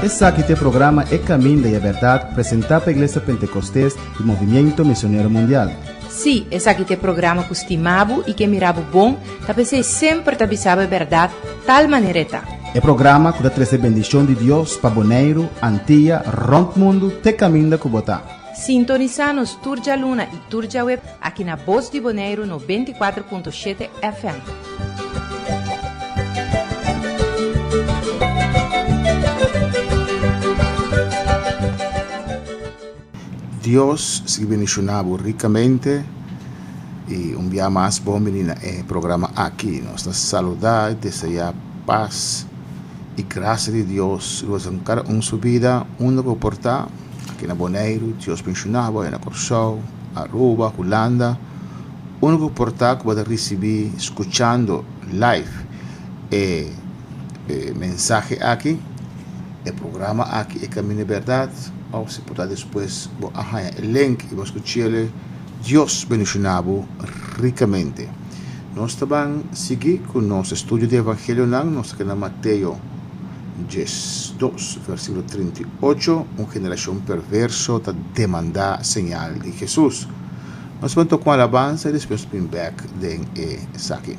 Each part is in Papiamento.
Esaki ta e programa E kaminda i e bèrdat, presentá pa Iglesia Pentekostés di Movimiento Misionero Mundial. Sí, esaki ta e programa ku stimá bo i ke mirá bo bon, ta p'esei semper ta bisa bo e bèrdat, tal manera e ta. E programa ku ta trese bendishon di Dios pa Boneiru, Antia, rònt mundu te kaminda ku bo ta. Sintonisá nos tur djaluna i tur djaweb aki na Bos di Boneiru noventa i kuater punto shete FM. Dios sigui bendiciona bo ricamente y un bia mas bon bini na e programa aki. Nos ta saluda y desea paz y gracia di Dios riba cada un su bida unda bo por ta. Aki na Boneiru, Dios menshona bo, e na Kòrsou, Aruba, Hulanda, úniko portal ku bo ta risibí skuchando live e mensahe aki, e programa aki, E Kaminda e Bèrdat, òf si por ta despues bo a haña e link i bo a skuch'e. Dios bendishona bo rikamente. Nos ta ban sigui ku nos estudio di evangelionan. Nos ta keda na Mateo. Ges. dos, versikulo trinta i ocho, Un generashon perverso ta demandá señal di Hesus. Nos por tok'un alabansa i despues bin bèk den esaki.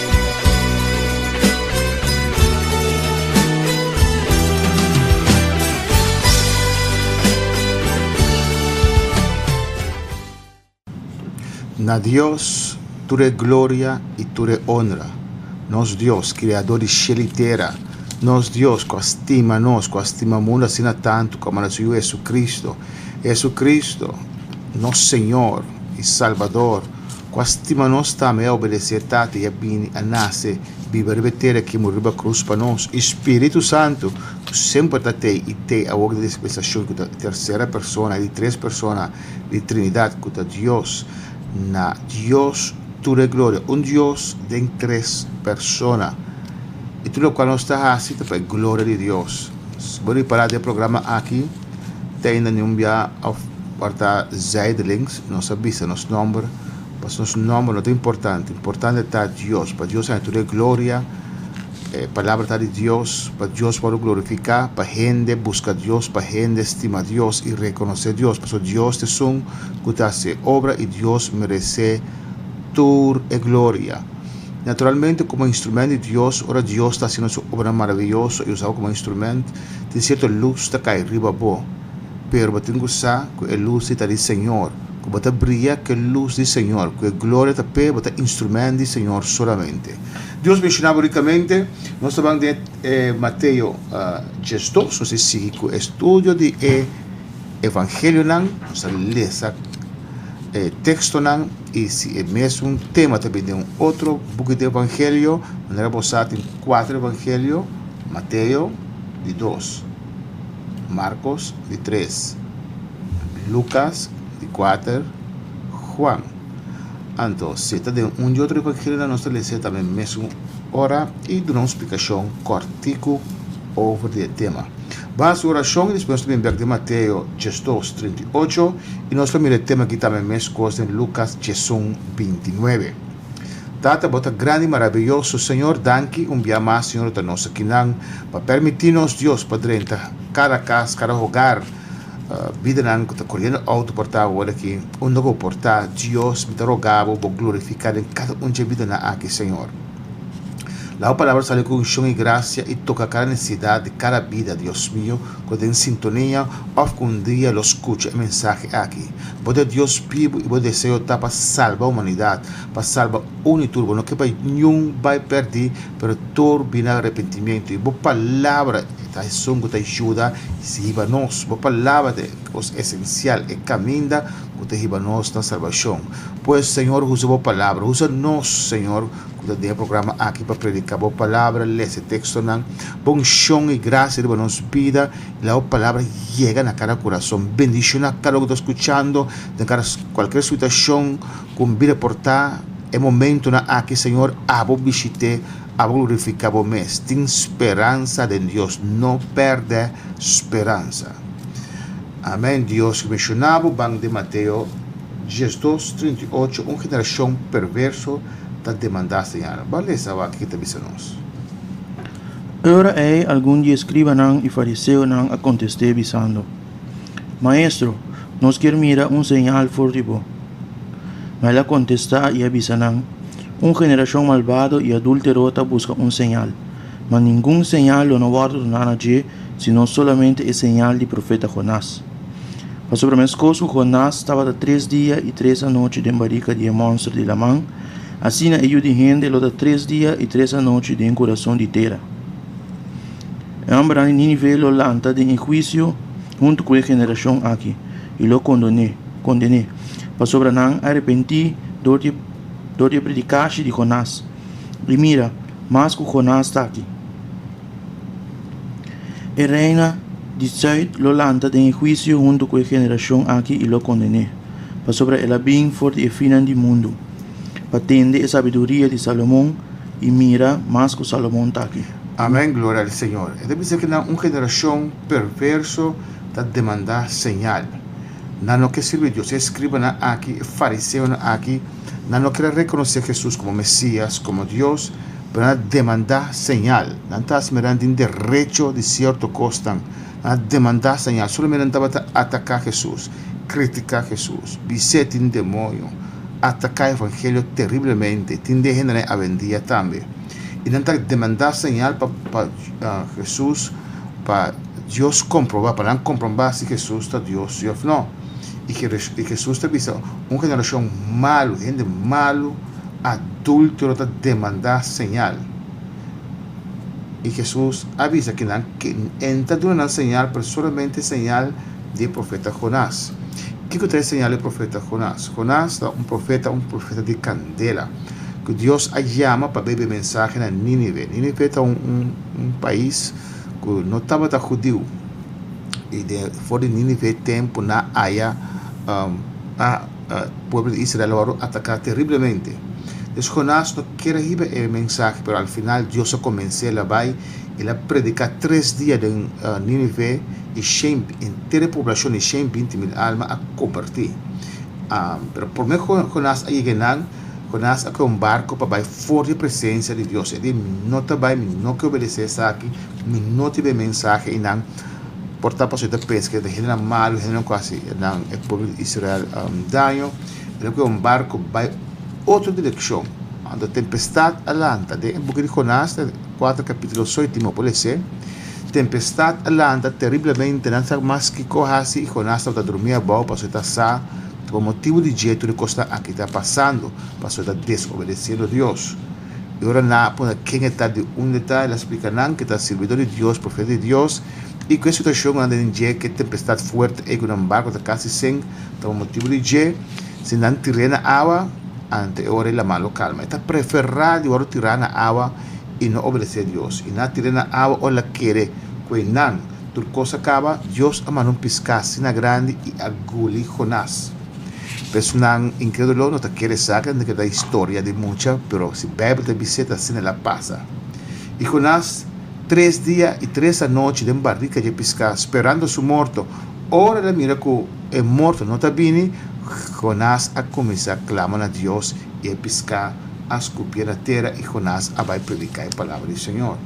Na Dios tur e gloria i tur e onra, nos Dios, Kriadó di shel i tera, nos Dios ku a stima nos, ku a stima mundu asina tantu ku a manda su Yu Hesukristu, Hesukristu, nos Señor i Salbador. ku a stima nos tambe a obedesé e Tata i a bini a nase biba riba e tera ki muri riba krus pa nos. E Spiritu Santu, ku semper ta tei i tei awor di dispensashon ku ta e tersera persona di tres persona di Trinidat ku ta Dios. Na Dios tur e gloria, un Dios den tres persona. E tur lokual nos ta hasi ta pa e gloria di Dios. Bo ripará den programa aki ta inda niun bia òf ora ta zijdelings nos a bisa nos nòmber, pasobra nos nòmber no ta importante. Importante ta Dios, pa Dios haya tur e gloria, e palabra ta di Dios, pa Dios wòrdu glorifiká, pa hende buska Dios, pa hende stima Dios i rekonosé Dios, pasobra Dios ta esun ku ta hasi e obra i Dios meresé tur e gloria. Naturalmente, komo instrumènt di Dios, ora Dios ta haciendo su obranan maraviyoso i usa bo komo instrumènt, tin sierto lus ta kai riba bo. Pero bo tin ku sa ku e lus ei ta di Señor. Ku bo ta bria, k'e lus di Señor, ku e gloria ta p'e, bo ta instrumènt di Señor solamente. Dios menshoná bo rikamente. Nos ta ban den e Mateo diesdos. Nos a sigui ku e estudio di e. Evangelionan, nos ta lesa e tekstonan i si e mesun tema ta bin den un otro buki di Evangelio, manera bo sa tin kuater Evangelio, Mateo di dos, Markos di tres, Lukas di kuater, Juan. Anto, si e ta den un di otro Evangelionan, nos ta lesa e tambe mesun ora i duna un splikashon kòrtiku over di e tema. Basta un orashon i despues nos ta bin bek den Mateo diesdos, trinta i ocho i nos ta mira e tema aki tambe meskos den Lukas diesun, binti nuebe. Tata, bo ta grandi i marabiyoso, Señor, danki un bia mas, Señor, bo ta nos akinan pa permití nos, Dios, pa drenta kada kas, kada hogar, bidanan ku ta koriendo outo por ta awor aki unda bo por ta, Dios, mi ta roga bo, bo glorifiká den kada un dje bidanan aki, Señor. Laga bo palabra sali ku unshon i grasia i toka kada nesesidat di kada bida, Dios mio, ku ta den sintonia òf ku un dia lo skucha e mensahe aki. Bo ta Dios bibu i bo deseo ta pa salba humanidat, pa salba un i tur. Bo no ke pa niun bai pèrdí, pero tur bini na repentimentu. I bo palabra ta esun ku ta yuda i sihiba nos. Bo palabra ta e kos esensial, e kaminda. ku ta hiba nos na salbashon. Pues, Señor, usa bo palabra. Usa nos, Señor, ku ta den e programa aki pa prediká bo palabra, lesa e tekstonan. Pon unshon i grasia riba nos bida i laga bo palabra yega na kada kurason. Bendishoná kada un ku ta skuchando den kada kualker situashon ku bida por ta e momentunan aki, Señor. Abo bishit'é, abo glorifiká bo mes. Tin speransa den Dios. No pèrdè speransa. Amen Dios cu menciona bo ban den Mateo diesdos trinta i ocho un generacion perverso ta demanda señal. Bo a lesa awaki ki ta bisa nos. Ora ei algun di e scribanan i fariseonan a contest'é bisando, Maestro, nos kier mira un señal for di bo. Ma el a contesta i a bisa nan, Un generacion malbado i adultero ta busca un señal. Ma ningun señal lo no wòrdu duna na dje, sino solamente e señal di profeta Jonás. Pasobra meskos ku Jonás tabata tres dia i tres anochi den barika di e mònster di laman, asina e Yu di hende lo ta tres dia i tres anochi den kurason di tera. E hòmbernan di Nínive lo lanta den e huisio huntu ku e generashon akí i lo kondoné, kondené, pasobra nan arepentí dor di e predikashi di Jonás. I mira! Mas ku Jonás ta aki. E reina di sùit lo lanta den e huisio huntu ku e generashon aki i lo konden'é, pasobra el a bin for di e finnan di mundu pa tende e sabiduria di Salomon, i mira, mas ku Salomon ta aki. Amèn, gloria al Señor. E ta bisa ku nan un generashon perverso ta demandá señal. Nan no ke sirbi Dios. E eskribanan aki, e fariseonan aki. Nan no ker a rekonosé Hesus komo Mesias, komo Dios, pero nan a demandá señal. Nan ta smeran di un derecho di sierto kosnan. Nan a demandá señal. Solo men nan tabata ataká Hesus, kritiká Hesus, bis'é tin demonio, ataká evangelio teriblemente, tin den hendenan awendia tambe. I nan ta demandá señal pa pa Hesus, pa Dios komprobá, pa nan komprobá si Hesus ta Dios, sí òf nò. i ke i Hesus ta bisa, Un generashon malu, hende malu, adúltero ta demandá señal. I Hesus a bisa ke nan ke e no ta duna nan señal, pero solamente e señal di e profeta Jonás. Kiko ta e señal di e profeta Jonás? Jonás ta un profeta, un profeta di kandela, ku Dios a yama pa bai bo e mensahe na Nínive. Nínive ta un un pais. ku no tabata hudiu, i den for di Nínive e tempu na haya um, a, a pueblo di Israel a wòrdu ataká terriblemente. Dus Jonás no kier a hiba e mensahe, pero al final Dios a komens'é, el a bai, el a prediká tres dia den uh, Nínive, i shen, enter e poblashon, i shen binti mil alma a kombertí. Um, pero promé ku Jonás a yega einan, cu nas a coe un barco pa bay for di presencia di Dios. E di, mi no ta bay, mi no ke obedece esaki, mi no tin bay mensahe. Y nan por tapa asina ta pesca den hendenan malu, hendenan cu a haci e pueblo di Israel daño. E lo coe un barco bay otro direccion. Anto tempestad a lanta. Den e buki di Jonás, den cuater capitulo so, y tin mopo lese, tempestad a lanta terriblemente. Nan sa mas kico haci y Jonás tabata durmi abao pasobra e ta sa. Por motibu di dje tur e kosnan aki ta pasando, pasobra ta desobedesiendo Dios. I ora nan a puntra ken e ta, di unda e ta, el a splika nan ku e ta sirbidó di Dios, profeta di Dios. I ku e situashonnan den dje ku e tempestat fuerte ei ku nan barku ta kasi sink, ta por motibu di dje, si nan tir'é na awa, ante e ora ei lamá lo kalma. E ta preferá di wòrdu tirá na awa i no obedesé Dios. I nan a tir'é na awa ora el a kere ku einan. Tur kos a kaba, Dios a manda un piská asina grandi i a guli Jonás. Personan inkrédulo no ta kere esaki, nan ta kere ta historia di mucha, pero si Beibel ta bis'é, ta asina el a pasa. I Jonás, tres dia i tres anochi den barika dje piská, sperando su morto. Ora el a mira ku e morto no ta bini, Jonás a kuminsá klama na Dios i e piská a skupié na tera i Jonás a bai prediká e palabra di Señor.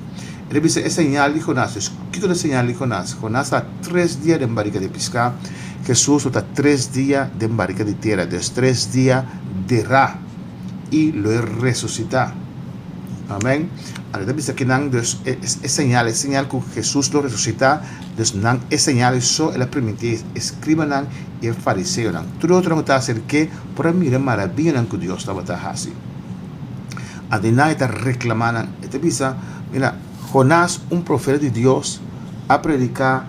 Rebisa e señal di Jonás. Pues, kiko ta e señal di Jonás? Jonás ta tres dia den barika di piská. Hesus lo ta tres dia den barika di tera, ta es tres dia derá, i lo e resusitá. Amèn. Anto ta bisa kinan dus e señal, e señal ku Hesus lo resusitá. Dus nan e señal ei so el a primintí e skribanan i e fariseonan. Tur e otronan ku tabata ser ke por a mira marabianan ku Dios tabata hasi. Adinai ta reclamá nan. E ta bisa, mira, Jonás, un profeta di Dios, a prediká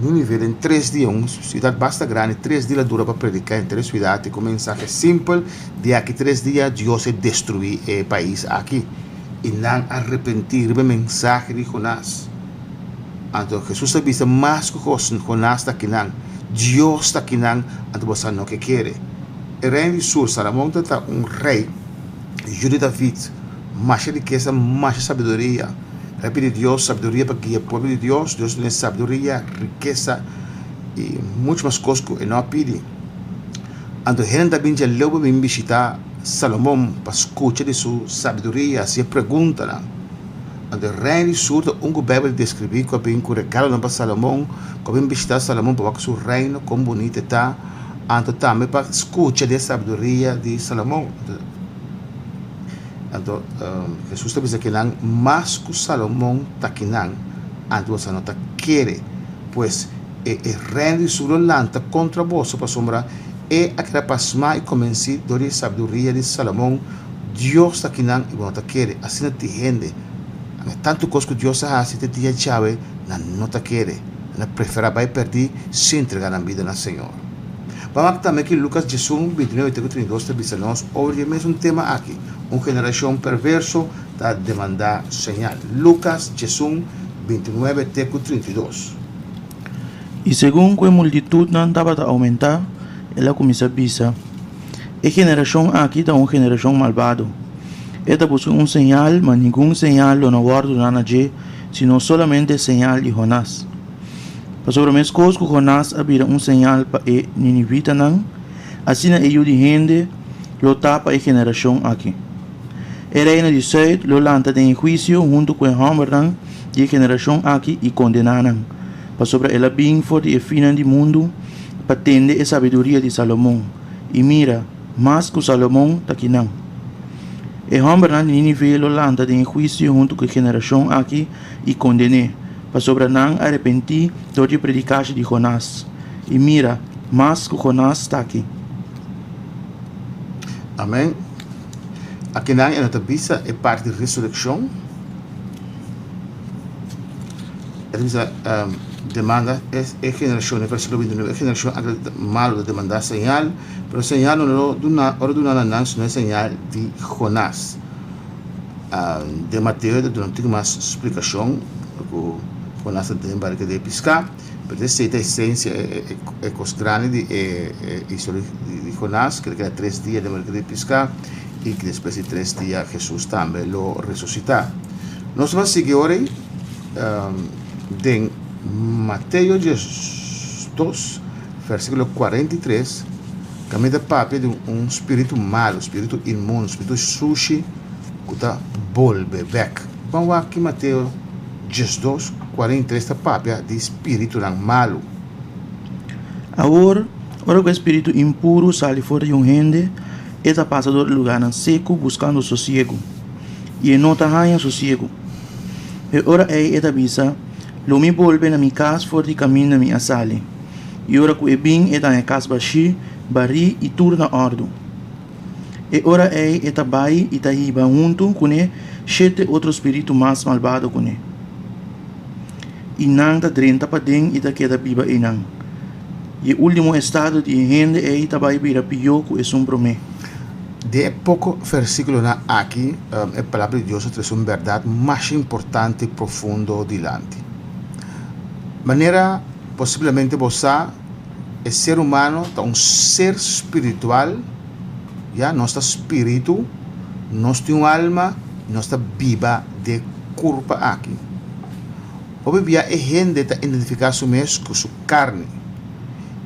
Nínive den tres dia, un siudat basta grandi, tres dia la dura pa prediká en tres siudat, e ku mensahe simpel, di aki tres dia Dios e destruí e pais aki. I nan a arepentí riba e mensahe di Jonás. Anto Hesus ta bisa, mas ku Jonás ta kinan, Dios ta kinan, anto boso a no ke kere. E reino di sur. Salomon ta ta un rei yu di David, masha rikesa, masha sabiduria. El a pidi Dios sabiduria pa guia e pueblo di Dios. Dios a duna e sabiduria, rikesa i muchu mas kos ku e no a pidi. Anto hende ta bin dja leu pa bin bishita Salomon pa skucha di su sabiduria, hasi e preguntanan. Anto e reino di sur ta un ku Beibel deskribí ku a bin ku regalonan pa Salomon, ku a bin bishita Salomon pa wak su reino kon bunita e ta. anto tambe pa skucha di e sabduria di Salomon. Anto, Jesus ta bisa kinan, Mas ku Salomon ta kinan, anto boso no ta kere. Pues, e, e reino di Sur lo lanta kontra boso, pasobra e a keda pasmá i konvensí dor di e sabduria di Salomon. Dios ta kinan i bo no ta kere, asina tin hende, tantu kos ku Dios a hasi te dia djawe, nan no ta kere. Nan prefera bai perdi sin trega nan bida na Señor. Bo a mak tambe ki Lucas diesun, bintinuebe te ku trintidos ta bisa nos over e mesun tema aki, Un generacion perverso ta demanda señal. Lucas diesun, bintinuebe te ku trintidos. I segun ku e multitudnan tabata oumentá, el a kuminsá bisa, E generacion aki ta un generacion malbado. E ta buska un señal, ma ningun señal lo na wòrdu dá na dje, sino solamente señal di Jonás. Pasobra mescos cu Jonás a bira un señal pa e ninivitanan, asina e Yu di Hende lo ta pa e generacion aki. E reino di Zuid lo lanta den e huicio hunto cu e hombernan di e generacion aki i condena nan, pasobra el a bin for di e finan di mundu pa tende e sabiduria di Salomon. I mira! Mas ku Salomon ta kinan. E hòmbernan di Nínive lo lanta den e huisio huntu ku e generashon akí i konden'é, pasobra nan arepentí dor di e predikashi di Jonás. I mira, mas ku Jonás ta akí. Amèn. Akinan e no ta bisa e parti di resurekshon. E ta bisa, Demanda e generashon di verso lubintunu. E generashon akí malu ta demandá señal. Pero señal no lo duna, ora duna na nan, sino e señal di Jonás. Um, den Mateo ta duna un tic mas explicacion, cu Jonás ta den barca de pisca, pero ta esey ta esencia, e, e, e cos grandi di e, e historia di, di Jonás, keda keda tres dia den barca de pisca, y despues di tres dia Jesús tambe lo resucita. Nos lo a sigui ora ey, um, den Mateo dies dos, Versikulo kuarenta i tres, Ka mi ta papia di un spiritu malu, spiritu inmundo, spiritu sushi ku ta bolbe bek. Ban wak ki Mateo diesdos, kuarenta i tres ta papia di spiritunan malu. Awor, ora ku e spiritu impuru sali for di un hende, e ta pasa dor e lugarnan seku buskando sosiegu, i e no ta haña sosiegu. E ora ei e ta bisa, Lo mi bolbe na mi kas for di kaminda mi a sali. i ora ku e bin e ta e kas bashí, barí i tur na òrdu. E ora ei e ta bai i ta hiba huntu kuné shete otro spiritu mas malbado kuné, i nan ta drenta paden i ta keda biba einan. I e último estado di e hende ei ta bai bira pió ku esun promé. Den e poko versíkulonan aki e Palabra di Dios ta trese un bèrdat masha importante i profundo dilanti. Manera. Posiblemente bo sa, e ser humano ta un ser spiritual, ya, nos ta spiritu, nos tin un alma y nos ta biba den e curpa aki. Hopi bia e hende ta identifica su mes cu su carni,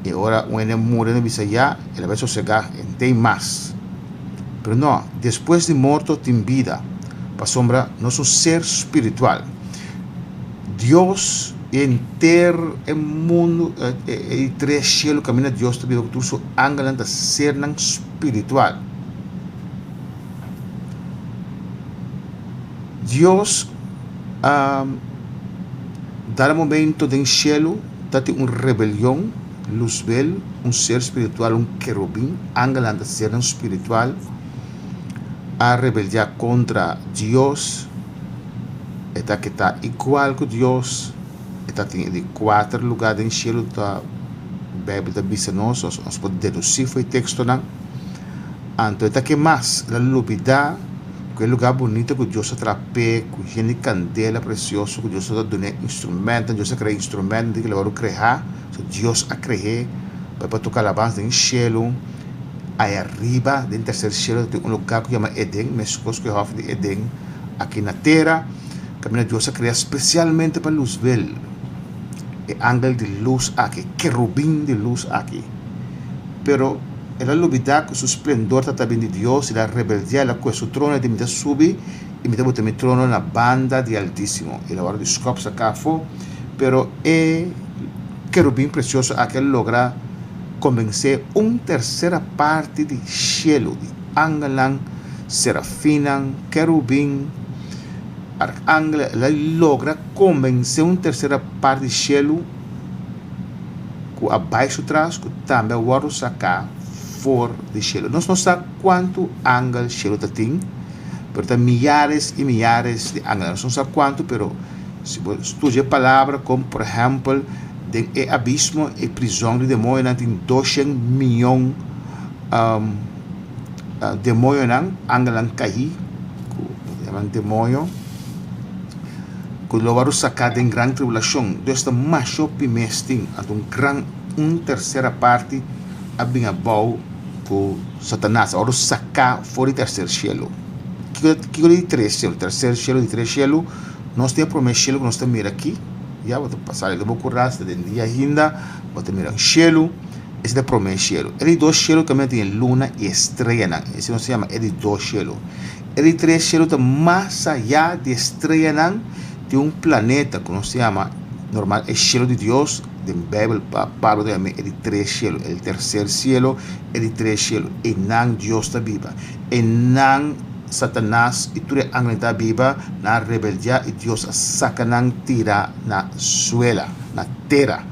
y ora un hende muri nan bisa, ya, el a bai sosega, e n'ta ei mas. Pero no, despues di morto tin bida, pasobra nos un ser spiritual. Dios i henter e mundu i tres shelu kaminda Dios ta biba ku tur su angelnan ta sernan spiritual. Dios a dal momento den shelu ta tin un rebelion, Luzbel, un ser spiritual, un kerubin, angelnan ta sernan spiritual, a rebeldia kontra Dios. e ta ke ta igual ku Dios, e ta tin e di kuater lugá den shelu ta Beibel ta bisa nos, o nos por dedusí fo'i tekstonan. Anto e ta ke mas, el a lubidá ku e lugá bunito ku Dios ta trap'é ku hende kandela presioso ku Dios lo ta dun'é instrumentonan, Dios a krea instrumentonan di kila hora ku krehá. So Dios a cre'é pa e por toca alabans den cielo. Aya riba den tercer cielo tatin un lugar cu yama Eden, mescos cu e hof di Eden aki na tera. Caminda Dios a crea specialmente pa luzbel e angel di luz aki, kerubin di luz aki. Pero el a lubida cu su splendor ta ta bin di Dios y el a rebeldea, el a coe su trono y el a dimita subi. i mi ta bota mi trono na banda di Altísimo. I la ora di skòp sa kaha afó, pero e kerubin presioso aki a logra konbensé un tersera parti di shelu, di angelnan, serafinnan, kerubin, arkangelnan, el a logra konbensé un tersera parti di shelu ku a bai su tras, ku tambe a wòrdu saká for di shelu. Nos no sa. Kuantu angel shelu ta tin? Pero ta miyares i miyares di angelnan. Nos no sa kuantu, pero si bo studia e palabra kon por ehèmpel den e abismo, e prizòn di demoñonan tin doshen miyon demoñonan, angelnan kahí, ku e yaman demoño, ku lo wòrdu saká den gran tribulashon. Dios ta masho pi mes tin. Anto un gran un tersera parti. a bin abou ku Satanas, ora us saká for di terser shelu. Kiko ta di tres shelu? Terser shelu, di tres shelu, nos tin e promé shelu ku nos ta mira aki, ya, bo ta sali di bo kurral, si ta den dia ainda, bo ta mira un shelu, ese ta e promé shelu. E di dos shelu tambe tin e luna i e streyanan, esei nos ta yama e di dos shelu. E di tres shelu ta mas ayá di e streyanan, tin un planeta ku nos ta yama, normal, e shelu di Dios, Den Bijbel Pablo ta yama e di tres cielo, el tercer cielo, e di tres cielo. Einan Dios ta biba. Einan Satanas i tur e angelnan ta biba, nan a rebeldia i Dios a saca nan tira na suela, na tera.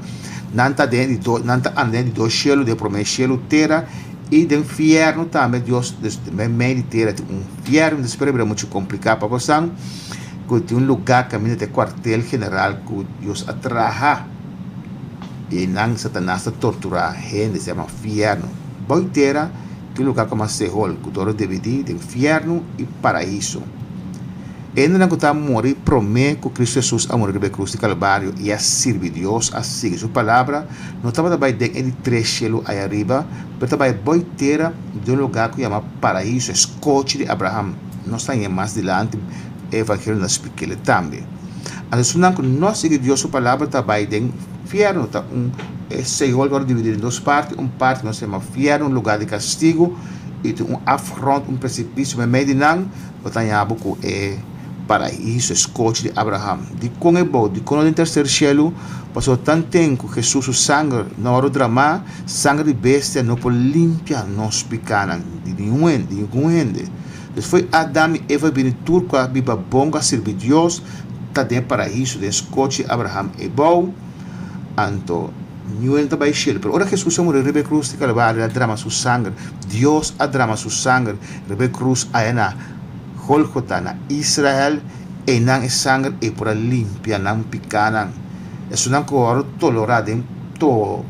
Nan ta den e di do, nan ta anda den e di dos cielo, den e prome cielo, tera, i den fierno tambe, Dios, den mei di tera tin un fierno. Despues a bira mucho complica, Papasan. ku tin un lugá kaminda ta e kuartel general ku Dios a traha i einan Satanas ta torturá hende, se yama fièrnu. Bou tera tin un lugá ku yama Sehol, ku dor a dividí den fièrnu i paraíso. E hendenan ku ta muri promé ku Kristu Hesus a muri riba e krus di Kalbario i a sirbi Dios, a sigui Su palabra, no tabata bai den e di tres shelu ayariba, pero ta bai bou tera den un lugá ku yama Paraíso, e skochi di Abraham. Nos ta hinga mas dilanti evangelio na spikele tambe. Anto esun nan ku no sigui Dios su palabra ta bai den fiernu, ta un Seol wòrdu dividí den dos parti, un parti nos yama fiernu, un lugá di kastigu, i tin un afgrond, un presipisiu meimei di nan. Bo ta haña bo ku e Paraíso, e skochi di Abraham. Dikon e bo? Dikon no den terser shelu? Pasó tanten ku Hesus su sanger no wòrdu dramá? Sanger di bestia no por limpia nos picánan di ningun hende. Despues Adam i Eva bini tur cu a biba bon cu a sirbi Dios ta den e paraíso, den scochi Abraham e bou. Anto, niun ta bai shel. Pero ora Jesus a muri riba e cruz di Calvario, el a drama su sanger. Dios a drama su sanger riba e cruz aya na Golgota, na Israel. Einan e sanger ei por a limpia nan picánan. Esun nan cu a wòrdu tolorá den. to,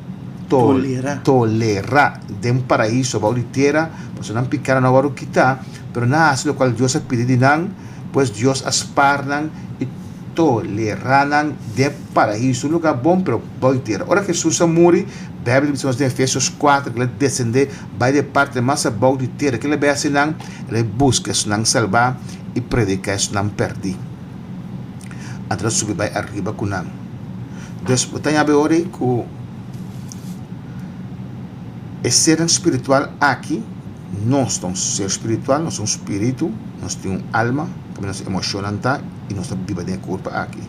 to, Tolera. tolera den Paraíso bou di tera, pasobra nan pekado no a wòrdu kitá, pero nan a hasi lokual Dios a pidi di nan, pues Dios a spar nan i tolera nan den Paraíso, un lugá bon, pero bou di tera. Ora Hesus a muri, Beibel ta bisa nos den Efesios kuater ku el a desendé bai den e parti mas abou di tera. Kila bai a hasi nan? El a bai buska esnan salbá i prediká esnan pèrdí. a tra subi bai arriba ku nan. Des bo ta yabi ora ei ku e sernan spiritual aki, nos ta un ser spiritual, nos ta un spiritu, nos tin un alma, pabia nos emoshonnan ta i nos ta biba den e kurpa aki.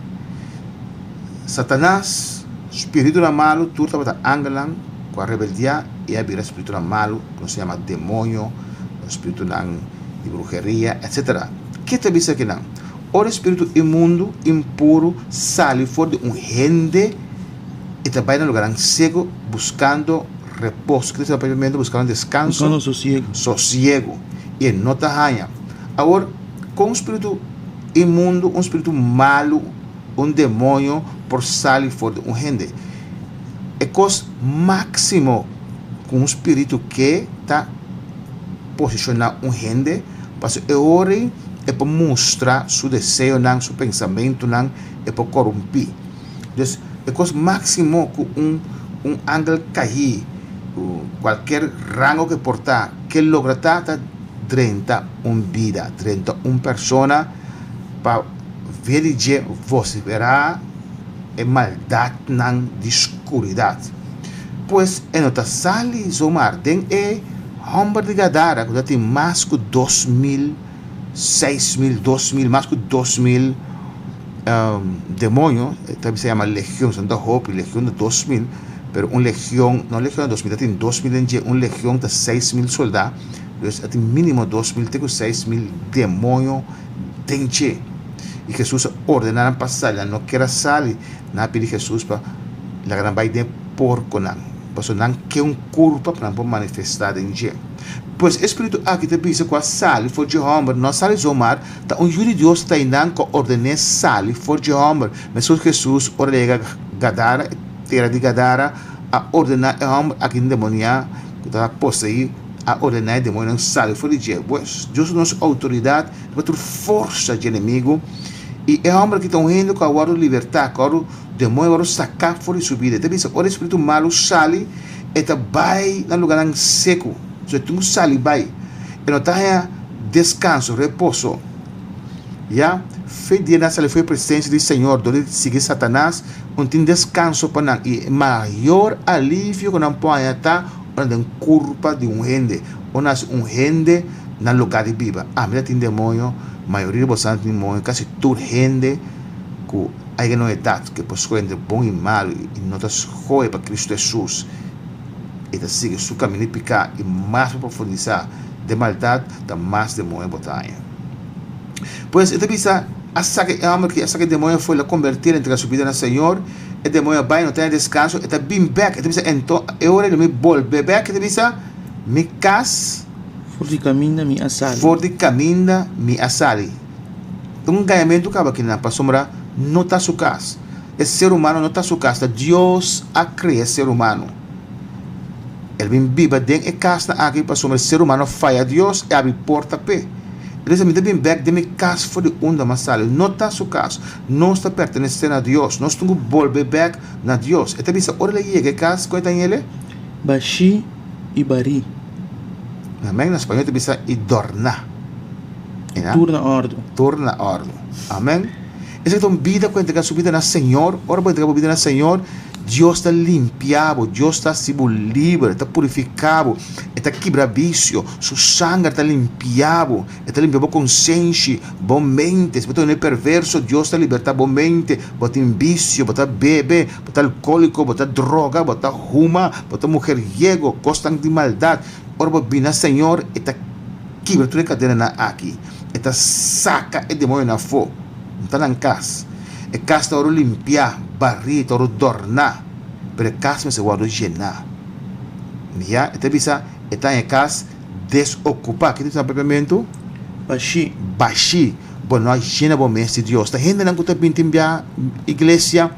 Satanas, spiritunan malu tur tabata angelnan ku a rebeldiá i a bira spiritunan malu ku nos ta yama demonio, spiritunan di bruheria, etcetera. Ke ta bisa kinan? Ora e spiritu imundu, impuru, sali for di un hende, e ta bai na lugarnan seku buskando repos. Kila sera papia mente buskando deskanso, sosiegu, i e no ta haña. Awor, kon un spiritu imundu, un spiritu malu, un demonio por sali for di un hende? E kos máksimo ku un spiritu ke ta. posishoná un hende, pasobra e ora ei e por mustra su deseonan, su pensamentunan, e por korumpí. Dus, e kos máksimo ku un un angel kaí, kualker rango ku e por ta, ke logra ta ta drenta un bida, drenta un persona pa. via di dje vociferá e maldadnan di scuridat. Pues e no ta sali zomar den e homber di Gadara cu ta tin mas cu dos mil, seis mil, dos mil, mas cu dos mil demonio, ta bisa yama legion, so no ta hopi, legion ta dos mil, pero un legion, no legion ta dos mil, ta tin dos mil den dje, un legion ta seis mil soldá, pues a tin minimo dos mil te cu seis mil demonio. den dje, i Hesus a ordená nan pa sali. Nan no ker a sali, nan a pidi Hesus pa laga nan bai den porkonan, pasobra nan ke un kurpa pa nan por manifestá den dje. Pues, e spiritu akí ta bisa ku a sali for dje hòmber. No a sali so, mar ta un yu di Dios Tainan ku a orden'é sali for dje hòmber. Mester Hesus, ora el a yega Gadara, tera di Gadara, a ordená e hòmber akí endemoniá ku tabata poseí, a ordená e demonionan sali for di dje. Pues, Dios nos outoridat riba tur forsa di enemigu, i e hòmber ki ta un hende ku a wòrdu libertá, ku a wòrdu demonio a wòrdu saká for di su bida. E ta bisa, ora e spiritu malu sali, e ta bai na lugánan seku. So, e tin ku sali bai. E no ta haña deskanso, reposo. Ya fe dia nan sali for e presensia di Señor dor di sigui Satanas, no tin deskanso pa nan. I e mayor alivio ku nan por haña ta. Ora den kurpa di un hende o na hasi un hende na luga di biba, ami ta tin demonio, mayoria di boso ta tin demonio, kasi tur hende ku ai gen un edat ku e por skohe entre bon i malu i no ta skohe pa Kristu Hesus, e ta sigui su kaminda di piká i mas pa profundisá den maldat, ta mas demonio bo ta haña. Pues e ta bisa, A saka e hòmber ki a saka e demonio afuera, a kombertiel, a entrega su bida na Señor. E demonio a bai, e no tene descanso, e ta bin bek, e ta bisa, Enton, e ora di mi bolbe bek, e ta bisa, Mi cas, For di caminda mi a sali. for di caminda mi a sali. Ta un gañamentu caba aki nan, pasobra no ta su cas. E ser humano no ta su cas, ta Dios a crea ser humano. El a bin biba den e casnan aki, pasobra e ser humano a faya Dios, e a abri porta p'e. E ta bisa, Mi ta bin bek den mi cas for di unda mi a sali. No ta su cas. Nos ta pertenesé na Dios. Nos tin cu bolbe bek na Dios. E ta bisa, Ora el a yega e cas, con e ta n'yele? Bashi i bari. Na Amen na spañol ta bisa, i dorna. E na. Tur na ordu. Tur na ordu. Amen. Esaki ta un bida cu entrega su bida na Señor. Ora bo entrega bo bida na Señor, Dios ta limpia bo. Dios ta haci bo liber. Ta purifica bo. E ta kibra vicio. Su sanger ta limpia bo. E ta limpia bo konsenshi, bo mente. Si bo ta un e perverso, Dios ta libertá bo mente. Bo tin bisio, bo ta bebe, bo ta alkóliko, bo ta droga, bo ta huma, bo ta muheriego, kosnan di maldat. Ora bo bini na Señor, e ta kibra tur e kadenanan aki. E ta saka e demonionan afó. N ta na N kas. E kas ta oro limpiá, barí, ta oro dòrná, pero e kas mester wòrdu jená. Mia, e ta bisa, e ta na e kas. Desokupá. Kiko ta sa pepemento? Bashí. Bashí. Bo no a yena bo mes di Dios. Ta hendenan ku ta bin tin bia iglesia,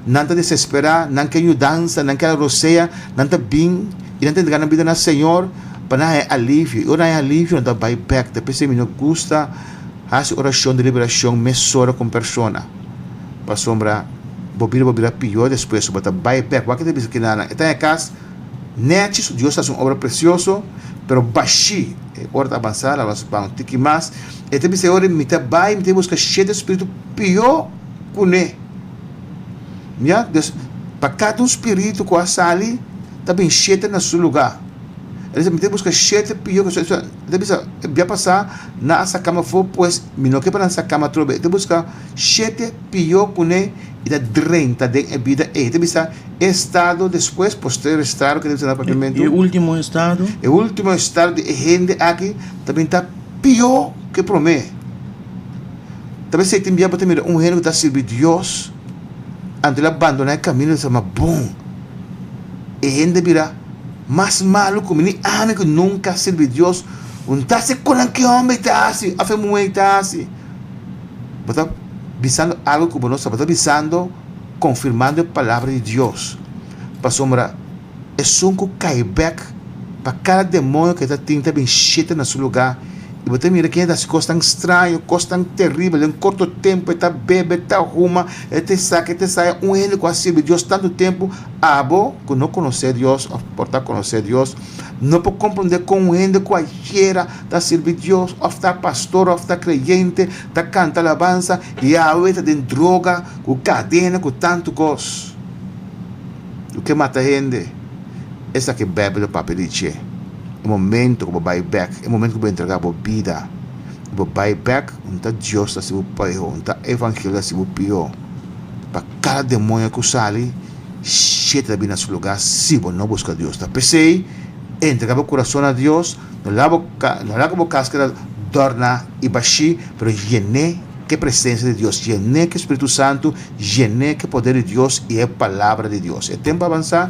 nan ta desesperá, nan ke yudansa, nan ke arosea, nan ta bin i nan ta entrega nan bida na Señor pa nan haña alivio. I ora nan haña alivio nan ta bai bèk. Ta p'esei mi no gusta hasi orashon di liberashon mesora ku un persona pasobra bo bira bo bira pior despues. So bo ta bai bèk. Wak i ta bisa kinanan, e ta haña kas Nèchi su Dios ta hasi un obra presioso, pero bashí e ora ta abansá la nos ban tiki mas. E ta bisa, E ora mi ta bai, mi ta buska shete spiritu pió kuné. Mira, dus, pa kada un spiritu ku a sali, ta bin shete na su lugá. E ta bisa, Mi ta buska shete pió ke su. E ta bisa, Bia pasá nan a sakam afó, pues mi no ke pa nan sakam atrobe. E ta buska shete. Pio kuné i ta drenta den e bida ei. Ta bisa e estado despues, posterior estado, ke ta mensioná propiamentu. E último estado. E último estado di e hende aki ta bin ta pio ke promé. Ta bisa e tin bia bo ta mira un hende ku ta sirbi Dios, anto el a bandoná e kamino di sa mas bon. E hende a bira mas malu ku mi, ni ami ku nunka a sirbi Dios. Un ta hasi kon nan ki hòmber ta hasi òf e muhé ta hasi. Bo ta bisando algu ku bo no sa. Bo ta bisando konfirmando e palabra di Dios. Pasobra esun ku kai bèk pa kada demonio ku e ta tin ta bin sheta na su lugá. I bo ta mira ken a ta hasi kosnan straño, kosnan teribel. Den korto tempu e ta bebe, e ta huma, e ta esaka, e ta esaya. Un hende ku a sirbi Dios tantu tempu, abo ku no konosé Dios òf por ta konosé Dios, No por comprende con un hende cualkiera ta sirbi Dios of ta pastor of ta creyente ta canta alabanza y awe ta den droga cu cadena cu tantu cos. Lo ke mata hende esaki Bijbel a papia di dje. E momento cu bo bay bek, e momento cu bo entrega bo bida y bo bay bek, un ta Dios ta hasi bo poeho, un ta evangelio ta hasi bo pio. Kada demonia ku sali, shete ta bini na su lugá si bo no buska Dios. Ta p'esei, entregá bo kurason na Dios, no laga ku bo kas keda dòrna i bashí, pero yen'é ku e presensia di Dios, yen'é ku e Spiritu Santu, yen'é ku e poder di Dios i e Palabra di Dios. E tempu a avansá.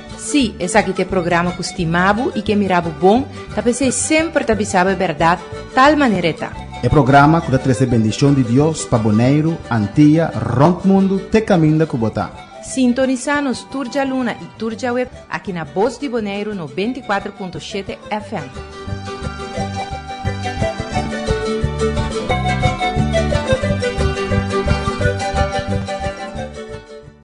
Sí, esaki ta e programa ku stima bo i ke mira bo bon, ta p'esei semper ta bisa bo e bèrdat, tal manera e ta. E programa ku ta trese bendishon di Dios pa Boneiru, Antia, rònt mundu te kaminda ku bo ta. Sintonisá nos tur djaluna i tur djaweb aki na Bos di Boneiru noventa i kuater punto shete FM.